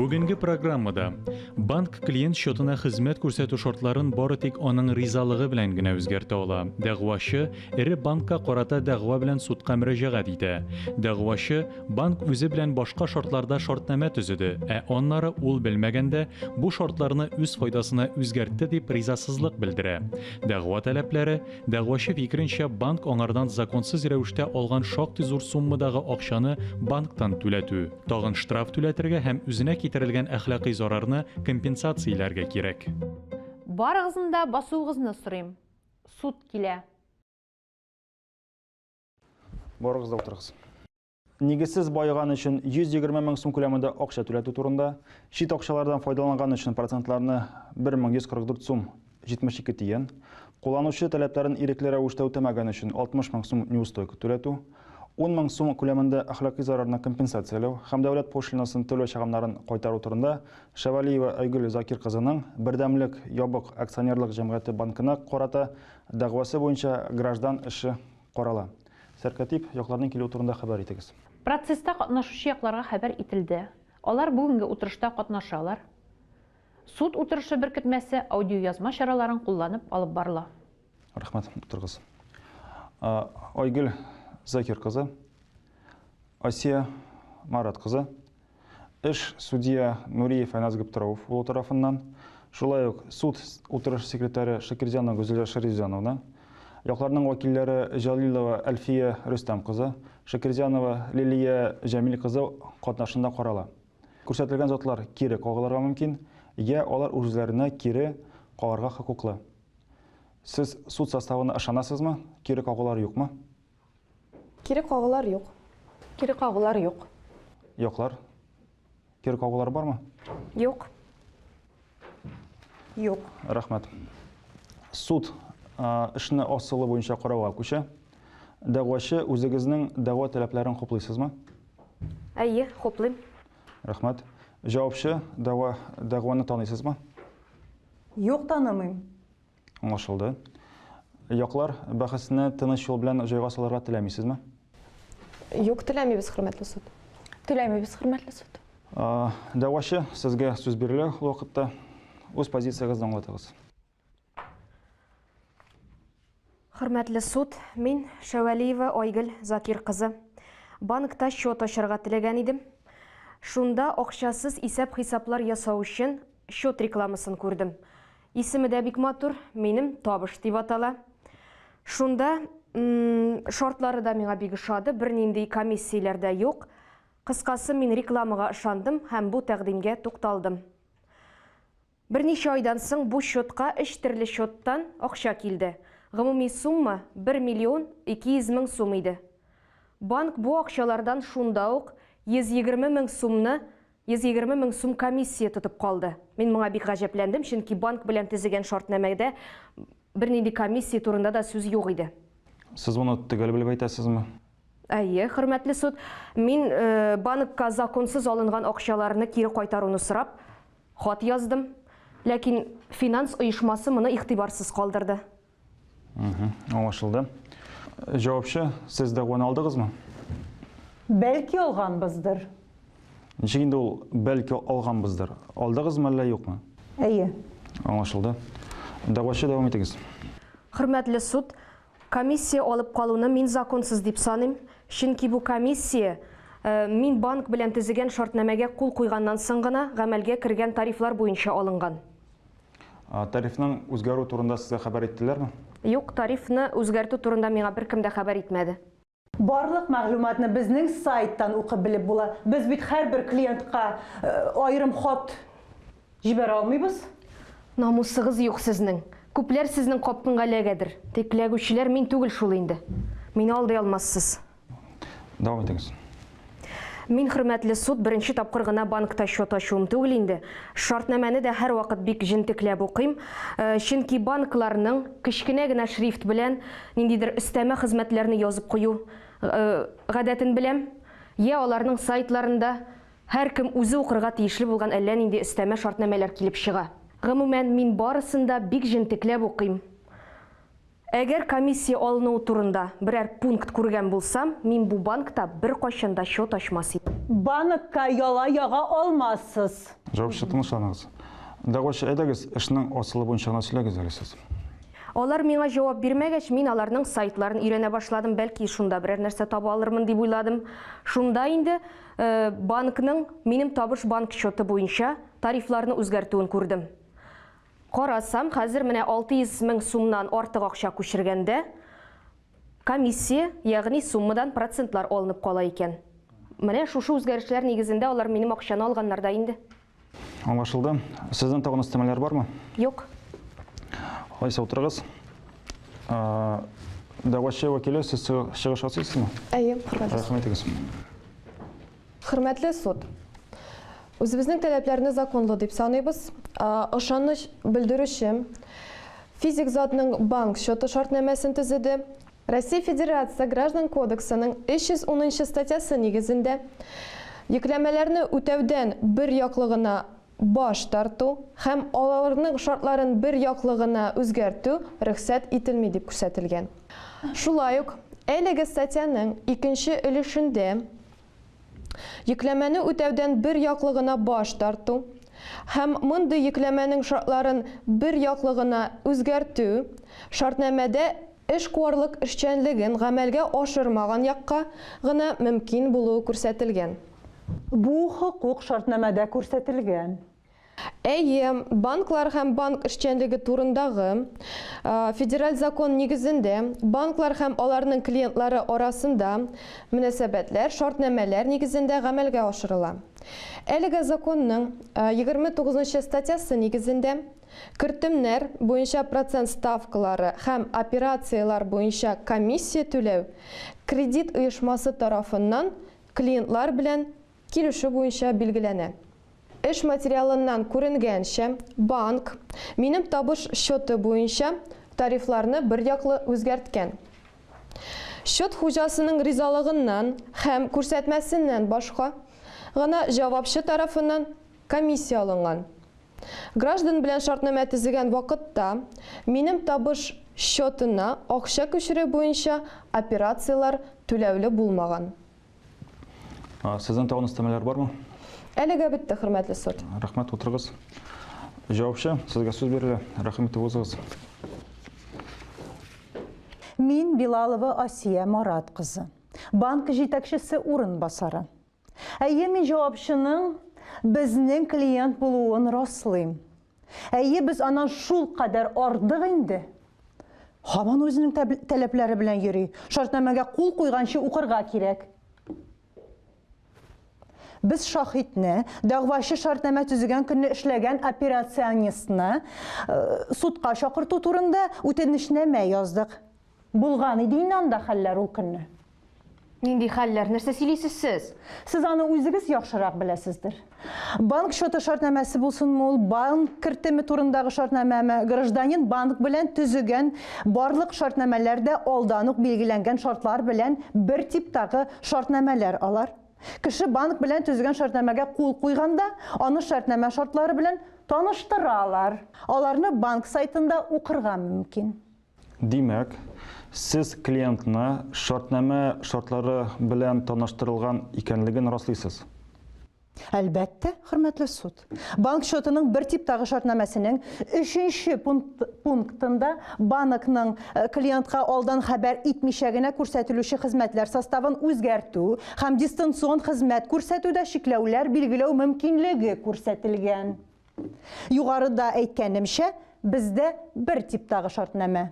Бүгенге программада банк клиент счетына хезмәт күрсәтү шартларын бары тик аның ризалыгы белән генә үзгәртә ала. Дәгъвачы эре банкка карата дәгъва белән судка мөрәҗәгать итә. Дәгъвачы банк үзе белән башка шартларда шартнамә төзеде, ә аннары ул белмәгәндә бу шартларны үз файдасына үзгәртте дип ризасызлык белдерә. Дәгъва таләпләре, дәгъвачы фикеренчә, банк аңардан законсыз рәвештә алган шактый зур суммадагы акчаны банктан түләтү, тагын штраф түләтергә һәм үзенә китерелгән әхлакый зарарны компенсацияләргә кирәк. Барыгызны да басуыгызны сорыйм. Суд килә. Барыгыз да утырыгыз. Нигезсез баеган өчен 120 мең сум күләмендә акча түләтү турында, чит акчалардан файдаланган өчен процентларны 1144 сум 72 тиен, кулланучы таләпләрен ирекле рәвештә үтәмәгән өчен 60 мең сум неустойка түләтү, 10 мең сум күләмендә әхлакый зарарны компенсацияләү һәм дәүләт пошлинасын түләү чыгымнарын кайтару турында Шәвәлиева Айгөл Закир кызының Бердәмлек ябык акционерлык җәмгыяте банкына карата дәгъвасы буенча граждан эше Карала. Сәркатип якларның килүе турында хәбәр итегез. Процесста катнашучы якларга хәбәр ителде. Алар бүгенге утырышта катнашалар. Суд утырышы беркетмәсе аудиоязма чараларын кулланып алып барыла. Рәхмәт. Утырыгыз. Айгөл Закир кызы, Асия Марат кызы. Эш судья Нуриев Айназ Габдраоф улы тарафыннан, шулай ук суд утырышы секретаре Шакирҗанова Гүзәлия Шәрифҗановна, якларның вәкилләре Җәлилова Әлфия Рөстәм кызы, Шакирҗанова Лилия Җәмил кызы катнашында карала. Күрсәтелгән затлар кире кагылырга мөмкин, йә алар үзләренә кире кагарга хокуклы. Сез суд составына ышанасызмы, кире кагулар юкмы? Кире кагулар юк. Кире кагулар юк. Юклар. Кире кагулар бармы? Юк. Юк. Рәхмәт. Суд эшне асылы буенча карауга күчә. Дәгъвачы, үзегезнең дәгъва таләпләрен хуплыйсызмы? Әйе, хуплыйм. Рәхмәт. Җавапчы, дәгъва, дәгъваны таныйсызмы? Юк, танымыйм. Аңлашылды. Яклар бәхәсне тыныч юл белән җайга салырга теләмисезме? Юк, теләмибез, хөрмәтле суд. Теләмибез, хөрмәтле суд. Дәгъвачы, сезгә сүз бирелә ул вакытта. Үз позициягезне аңлатыгыз. Хөрмәтле суд, мин Шәвәлиева Айгөл Закир кызы. Банкта счет ачарга теләгән идем. Шунда акчасыз исәп-хисаплар ясау өчен счет рекламасын күрдем. Исеме дә бик матур, минем табыш дип атала. Шунда шартлары да миңа бик ошады, бернинди комиссияләр дә юк. Кыскасы, мин рекламага ышандым һәм бу тәкъдимгә тукталдым. Берничә айдан соң бу счетка өч төрле счеттан акча килде. Гомуми сумма 1 миллион 200 мең сум иде. Банк бу акчалардан шунда ук 120 мең сумны 120 мең сум комиссия тотып калды. Мин моңа бик гаҗәпләндем, чөнки банк белән төзегән шартнамәдә бернинди комиссия турында да сүз юк иде. Сез моны төгәл белеп әйтәсезме? Әйе, хөрмәтле суд, мин банкка законсыз алынган акчаларны кире кайтаруны сорап, хат яздым. Ләкин финанс оешмасы моны игътибарсыз калдырды. Аңлашылды. Җавапчы, сез дәгъваны алдыгызмы? Бәлки алганбыздыр. Ничек инде ул бәлки алганбыздыр? Алдыгызмы әллә юкмы? Әйе. Аңлашылды. Дәгъвачы дәвам итегез. Хөрмәтле суд, комиссия алып калуны мин законсыз дип саныйм, чөнки бу комиссия мин банк белән төзегән шартнамәгә кул куйганнан соң гына гамәлгә кергән тарифлар буенча алынган. Тарифның үзгәрү турында сезгә хәбәр иттеләрме? Юк, тарифны үзгәртү турында миңа беркем дә хәбәр итмәде. Барлык мәгълүматны безнең сайттан укып белеп була. Без бит һәрбер клиентка аерым хат җибәрә алмыйбыз. Намусыгыз юк сезнең. Күпләр сезнең капкңга эләгәдер. Тик эләгүчеләр мин түгел шул инде. Мине алдый алмассыз. Дәвам итегез. Мин хөрмәтле суд беренче тапкыр гына банкта счет ачуым түгел инде. Шартнамәне дә һәрвакыт бик җентекләп укыйм. Э, чөнки банкларның кечкенә генә шрифт белән ниндидер өстәмә хезмәтләрне язып кую э, гадәтен беләм. Я аларның сайтларында һәркем үзе укырга тиешле булган әллә нинди өстәмә шартнамәләр килеп чыга. Гомумән, мин барысын да бик җентекләп укыйм. Әгәр комиссия алынуы турында берәр пункт күргән булсам, мин бу банкта беркайчан да счет ачмас идем. Банкка яла яга алмассыз. Җавапчы, тынычланыгыз. Дәгъвачы, әйдәгез, эшнең асылы буенча гына сөйләгез әле сез. Алар миңа җавап бирмәгәч, мин аларның сайтларын өйрәнә башладым, бәлки, шунда берәр нәрсә таба алырмын дип уйладым. Шунда инде банкның минем табыш банк счеты буенча тарифларны үзгәртүен күрдем. Карасам, хәзер менә 600 мең сумнан артык акча күчергәндә, комиссия, ягъни суммадан процентлар алынып кала икән. Менә шушы үзгәрешләр нигезендә алар минем акчаны алганнар да инде. Аңлашылды. Сезнең тагын өстәмәләр бармы? Юк. Алайса утырыгыз. Дәгъвачы вәкиле, сез чыгыш ясыйсызмы? Әйе, хөрмәтле суд. Рәхмәт итегез. Хөрмәтле суд! Үзебезнең таләпләрне законлы дип саныйбыз. Ышаныч белдерүче физик затның банк счеты шартнамәсен төзеде. Россия Федерация Граждан кодексының 310 нчы статьясы нигезендә йөкләмәләрне үтәүдән бер яклы гына баш тарту һәм алалрның шартларын бер яклы гына үзгәртү рөхсәт ителми дип күрсәтелгән. Шулай ук әлеге статьяның икенче өлешендә йөкләмәне үтәүдән бер яклы гына баш тарту һәм мондый йөкләмәнең шартларын бер яклы гына үзгәртү шартнамәдә Эшкуарлык эшчәнлеген гамәлгә ашырмаган якка гына мөмкин булуы күрсәтелгән. Бу хокук шартнамәдә күрсәтелгән. Әйе, Банклар һәм банк эшчәнлеге турындагы Федераль закон нигезендә банклар һәм аларның клиентлары арасында мөнәсәбәтләр шартнамәләр нигезендә гамәлгә ашырыла. Әлеге Законның егерме тугызынчы статьясы нигезендә, Кертемнәр буенча процент ставкалары һәм операцияләр буенча комиссия түләү кредит оешмасы тарафыннан клиентлар белән килешү буенча билгеләнә. Эш материалыннан күренгәнчә, банк Минем табыш счеты буенча тарифларны берьяклы үзгәрткән. Счет хуҗасының ризалыгыннан һәм күрсәтмәсеннән башка гына җавапчы тарафыннан комиссия алынган. Граждан белән шартнамә төзегән вакытта минем табыш счетына акча күчерү буенча операцияләр түләүле булмаган. Сезнең тагын өстәмәләр бармы? Әлегә бетте, хөрмәтле суд. Рәхмәт, утырыгыз. Җавапчы, сезгә сүз бирелә. Рәхим итеп узыгыз. Мин Билалова Асия Марат кызы, банк җитәкчесе урынбасары. Әйе, мин җавапчының безнең клиент булуын раслыйм. Әйе, без аннан шул кадәр ардык инде. Һаман үзенең таләпләре белән йөри. Шартнамәгә кул куйганчы укырга кирәк. Без шахитне, дәгъвачы шартнамә төзегән көнне эшләгән операционистны э, судка чакырту турында үтенечнамә яздык. Булган иде инде анда хәлләр ул көнне. Нинди хәлләр? Нәрсә сөйлисез сез? Сез аны үзегез яхшырак беләсездер. Банк счеты шартнамәсе булсынмы ул, банк кертеме турындагы шартнамәме, гражданин банк белән төзегән барлык шартнамәләр дә алдан ук билгеләнгән шартлар белән бер типтагы шартнамәләр алар. Кеше банк белән төзегән шартнамәгә кул куйганда, аны шартнамә шартлары белән таныштыралар. Аларны банк сайтында укырга мөмкин. Димәк, сез клиентны шартнамә шартлары белән таныштырылган икәнлеген раслыйсыз? Әлбәттә, хөрмәтле суд. Банк счетының бер типтагы шартнамәсенең өченче пунктында банкның клиентка алдан хәбәр итмичә генә күрсәтелүче хезмәтләр составын үзгәртү һәм дистанцион хезмәт күрсәтүдә чикләүләр билгеләү мөмкинлеге күрсәтелгән. Югарыда әйткәнемчә, бездә бер типтагы шартнамә.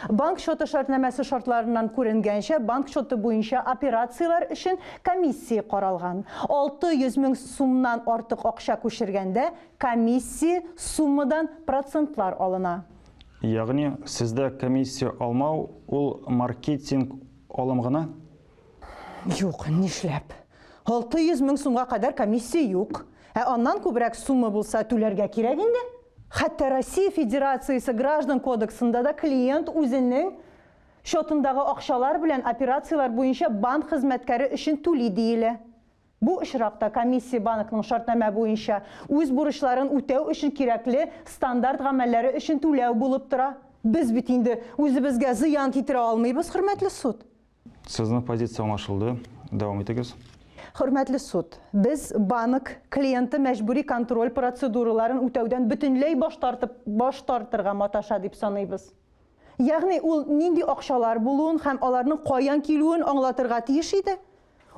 Банк счеты шартнамәсе шартларыннан күренгәнчә, банк счеты буенча операцияләр өчен комиссия каралган. 600 мең сумнан артык акча күчергәндә, комиссия суммадан процентлар алына. Ягъни, сездә комиссия алмау, ул маркетинг алым гына? Юк, нишләп? 600 мең сумга кадәр комиссия юк. Ә аннан күбрәк сумма булса түләргә кирәк инде. Хәтта Россия Федерациясе граждан кодексында да клиент үзенең счетындагы акчалар белән операцияләр буенча банк хезмәткәре өчен түли диелә. Бу очракта комиссия банкның шартнамә буенча үз бурычларын үтәү өчен кирәкле стандарт гамәлләре өчен түләү булып тора. Без бит инде үзебезгә зыян китерә алмыйбыз, хөрмәтле суд. Сезнең позиция аңлашылды. Дәвам итегез. Хөрмәтле суд, без банк клиенты мәҗбүри контроль процедураларын үтәүдән бөтенләй баш тартып, баш тартырга маташа дип саныйбыз. Ягъни ул нинди акчалар булуын һәм аларның каян килүен аңлатырга тиеш иде.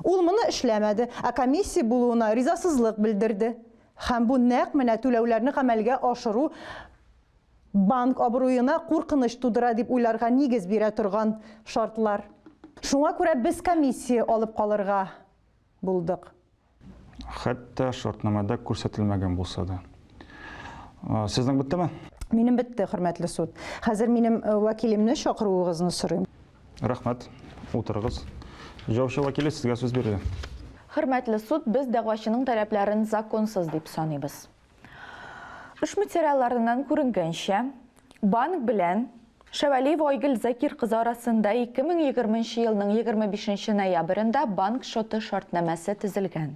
Ул моны эшләмәде, ә комиссия булуына ризасызлык белдерде. Һәм бу нәкъ менә түләүләрне гамәлгә ашыру Банк абруена куркыныч тудыра дип уйларга нигез бирә торган шартлар. Шуңа күрә без комиссия алып калырга булдык. Хәтта шартнамада күрсәтелмәгән булса да. Сезнең беттеме? Минем бетте, хөрмәтле суд. Хәзер минем вәкилемне чакыруыгызны сорыйм. Рәхмәт. Утырыгыз. Җаучы вәкиле, сезгә сүз бирелә. Хөрмәтле суд, без дәгъвачының таләпләрен законсыз дип саныйбыз. Эш материалларыннан күренгәнчә, банк белән Шәвәлиева Айгөл Закир кызы арасында 2020 елның 25 ноябрендә банк счеты шартнамәсе төзелгән.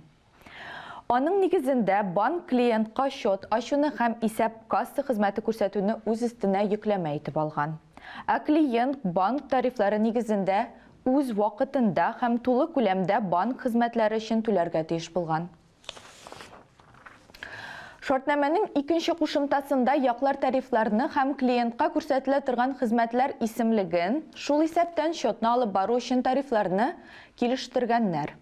Аның нигезендә банк клиентка счет ачуны һәм исәп касса хезмәте күрсәтүне үз өстенә йөкләмә итеп алган. Ә клиент банк тарифлары нигезендә үз вакытында һәм тулы күләмдә банк хезмәтләре өчен түләргә тиеш булган. Шартнамәнең икенче кушымтасында яклар тарифларны һәм клиентка күрсәтелә торган хезмәтләр исемлеген, шул исәптән счетны алып бару өчен тарифларны, килештергәннәр.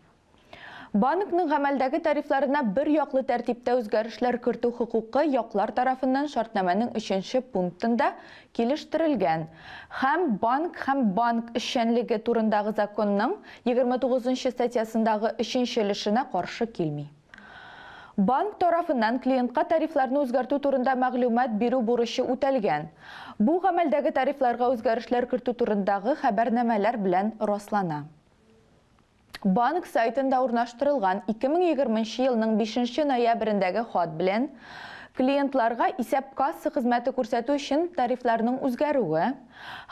Банкның гамәлдәге тарифларына бер яклы тәртиптә үзгәрешләр кертү хокукы яклар тарафыннан шартнамәнең өченче пунктында килештерелгән һәм Банк һәм банк эшчәнлеге турындагы законның 29 нчы статьясындагы өченче өлешенә каршы килми. Банк тарафыннан клиентка тарифларны үзгәртү турында мәгълүмат бирү бурычы үтәлгән. Бу гамәлдәге тарифларга үзгәрешләр кертү турындагы хәбәрнамәләр белән раслана. Банк сайтында урнаштырылган 2020 нче елның 5 нче ноябрендәге хат белән клиентларга исәп-касса хезмәте күрсәтү өчен тарифларның үзгәрүе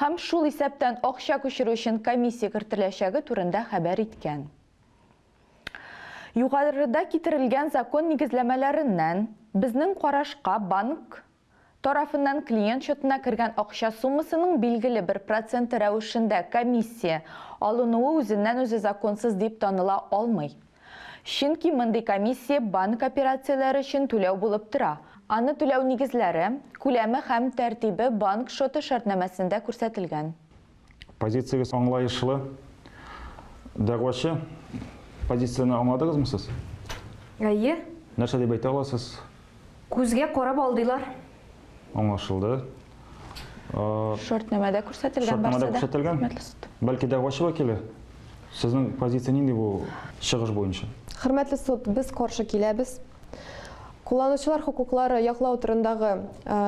һәм шул исәптән акча күчерү өчен комиссия кертеләчәге турында хәбәр иткән. Югарыда китерелгән закон нигезләмәләреннән, безнең карашка, банк тарафыннан клиент счетына кергән акча суммасының билгеле бер проценты рәвешендә комиссия алынуы үзеннән-үзе законсыз дип таныла алмый. Чөнки мондый комиссия банк операцияләре өчен түләү булып тора, аны түләү нигезләре, күләме һәм тәртибе банк счеты шартнамәсендә күрсәтелгән. Позициягез аңлаешлы. Дәгъвачы позицияне аңладыгызмы сез? Әйе. Нәрсә дип әйтә аласыз? Күзгә карап алдылар. Аңлашылды. Шартнамәдә күрсәтелгән Шартнамәдә күрсәтелгән. Бәлки дәгъвачы вәкиле? Сезнең позиция нинди бу чыгыш буенча? Хөрмәтле суд, без каршы киләбез. Кулланучылар хокуклары яклау турындагы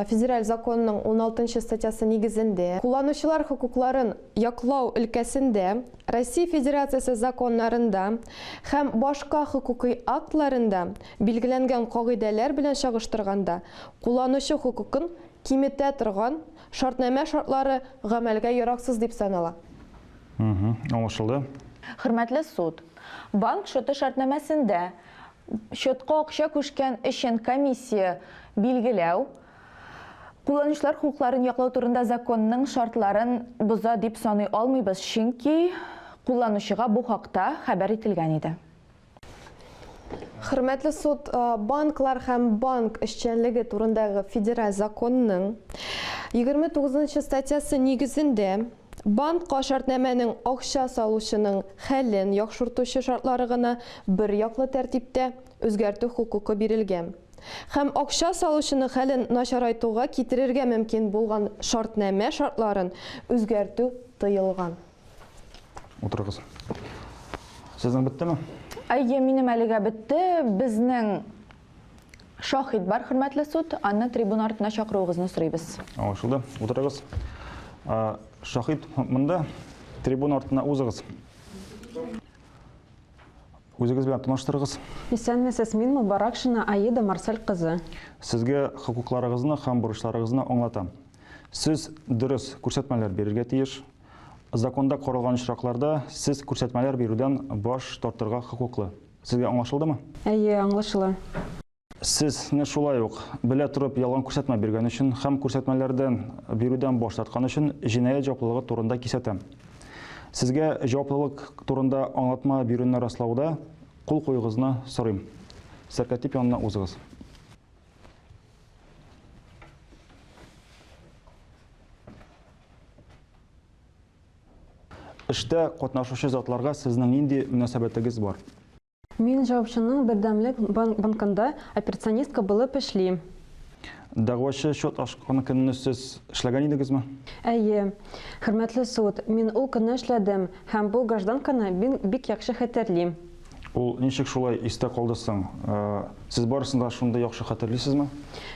федераль законның уналтынчы статьясы нигезендә, кулланучылар хокукларын яклау өлкәсендә Россия Федерациясе законнарында һәм башка хокукый актларында билгеләнгән кагыйдәләр белән чагыштырганда кулланучы хокукын киметә торган шартнамә шартлары гамәлгә яраксыз дип санала. Аңлашылды. Хөрмәтле суд, банк счеты шартнамәсендә Счетка акча күчкән өчен комиссия билгеләү, кулланучылар хокукларын яклау турында законның шартларын боза дип саный алмыйбыз, чөнки кулланучыга бу хакта хәбәр ителгән иде. Хөрмәтле суд, банклар һәм банк эшчәнлеге турындагы федераль законның 29 нчы статьясы нигезендә, Банкка шартнамәнең акча салучының хәлен яхшыртучы шартлары гына берьяклы тәртиптә үзгәртү хокукы бирелгән һәм акча салучының хәлен начарайтуга китерергә мөмкин булган шартнамә шартларын үзгәртү тыелган. Утырыгыз. Сезнең беттеме? Әйе, минем әлегә бетте. Безнең Шаһит бар, хөрмәтле суд, аны трибуна артына чакыруыгызны сорыйбыз. Аңлашылды. Утырыгыз. Шаһит монда трибуна артына узыгыз. Үзегез белән таныштырыгыз. Исәнмесез, мин Мубаракшина Аида Марсель кызы. Сезгә хокукларыгызны һәм бурычларыгызны аңлатам. Сез дөрес күрсәтмәләр бирергә тиеш. Законда каралган очракларда сез күрсәтмәләр бирүдән баш тартырга хокуклы. Сезгә аңлашылдымы? Әйе, аңлашыла. Сез не шулай ук, белә торып ялган күрсәтмә биргән өчен һәм күрсәтмәләрдән бирүдән баш тарткан өчен җинаять җаваплылыгы турында кисәтәм. Сезгә җаваплылык турында аңлатма бирүне раслауда кул куюыгызны сорыйм. Сәркәтип янына узыгыз. Эштә катнашучы затларга сезнең нинди мөнәсәбәтегез бар? Мин җавапчының Бердәмлек банкында операционистка булып эшлим. Дәгъвачы счет ачкан көнне сез эшләгән идегезме? Әйе. Хөрмәтле суд, мин ул көнне эшләдем һәм бу гражданканы мин бик яхшы хәтерлим. Ул ничек шулай истә калды соң? Сез барысын да шундый яхшы хәтерлисезме?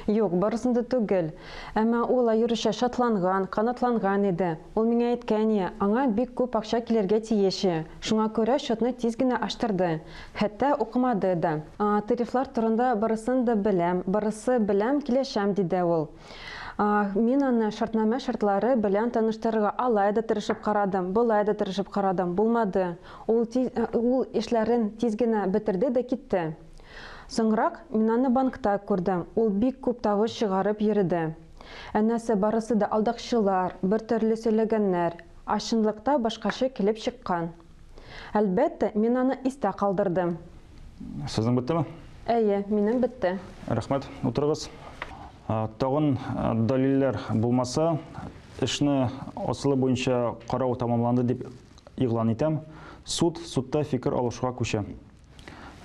Юк, барысын да түгел. Әмма ул аеруча шатланган, канатланган иде. Ул миңа әйткәне, аңа бик күп акча килергә тиеш, шуңа күрә счетны тиз генә ачтырды, хәтта укымады да. Тарифлар турында барысын да беләм, барысы белән килешәм, диде ул. Мин аны шартнамә шартлары белән таныштырырга алай да тырышып карадым, болай да тырышып карадым, булмады. Ул ул эшләрен тиз генә бетерде дә китте. Соңрак мин аны банкта күрдем, ул бик күп тавыш чыгарып йөреде. Әнәсе барысы да алдакчылар, бер төрле сөйләгәннәр, а чынлыкта башкача килеп чыккан. Әлбәттә, мин аны истә калдырдым. Сезнең беттеме? Әйе, минем бетте. Рәхмәт, утырыгыз. Тагын дәлилләр булмаса, эшне асылы буенча карау тәмамланды дип игълан итәм. Суд судта фикер алышуга күчә.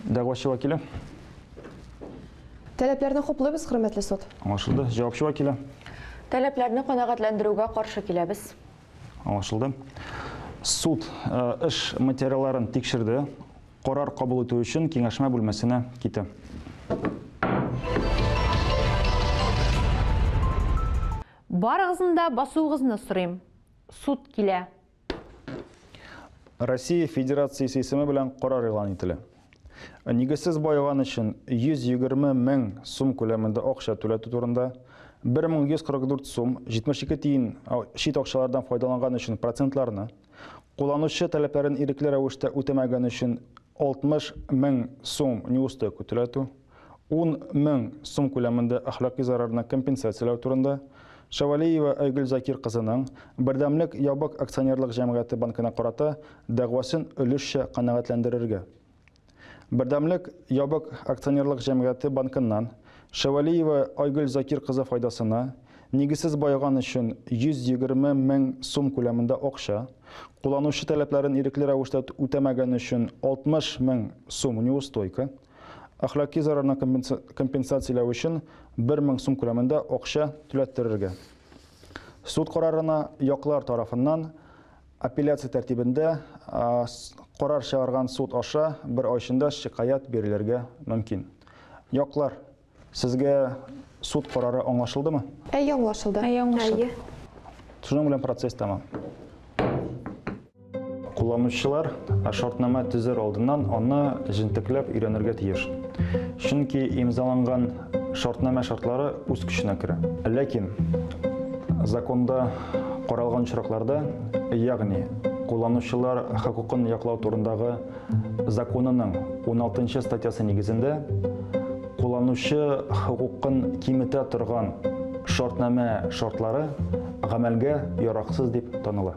Дәгъвачы вәкиле. Таләпләрне хуплыйбыз, хөрмәтле суд. Аңлашылды. Җавапчы вәкиле. Таләпләрне канәгатьләндерүгә каршы киләбез. Аңлашылды. Суд э, эш материалларын тикшерде. Карар кабул итү өчен киңәшмә бүлмәсенә китә. Барыгызны да басуыгызны сорыйм. Суд килә. Россия Федерациясе исеме белән карар игълан ителә. Нигезсез байыган өчен 120 мең сум күләмендә акча түләтү турында 1144 сум 72 тиен чит акчалардан файдаланган өчен процентларны, кулланучы таләпләрен ирекле рәвештә үтәмәгән өчен 60 мең сум неустойка түләтү, ун мең сум күләмендә әхлакый зарарны компенсацияләү турында, Шәвәлиева Айгөл Закир кызының Бердәмлек ябык акционерлык җәмгыяте банкына карата дәгъвасын өлешчә канәгатьләндерергә. Бердәмлек ябык акционерлык җәмгыяте банкыннан Шәвәлиева Айгөл Закир кызы файдасына нигезсез байыган өчен 120 мең сум күләмендә акча, кулланучы таләпләрен ирекле рәвештә үтәмәгән өчен 60 мең сум неустойка, Әхлаки зарарны компенсацияләү өчен 1 мең сум күләмендә акча түләттерергә. Суд карарына яклар тарафыннан апелляция тәртибендә карар чыгарган суд аша бер ай эчендә шикаять бирелергә мөмкин. Яклар Сезгә суд карары аңлашылдымы? Әйе, аңлашылды. Әйе, аңлашылды. Шуның белән процесс тәмам. Кулланучылар шартнама төзер алдыннан аны җентекләп өйрәнергә тиеш. Чөнки имзаланган шартнама шартлары үз көченә керә. Ләкин законда каралган очракларда, ягъни кулланучылар хокукын яклау турындагы законының 16 статьясы нигезендә кулланучы хокукын киметә торган шартнамә шартлары гамәлгә яраксыз дип таныла.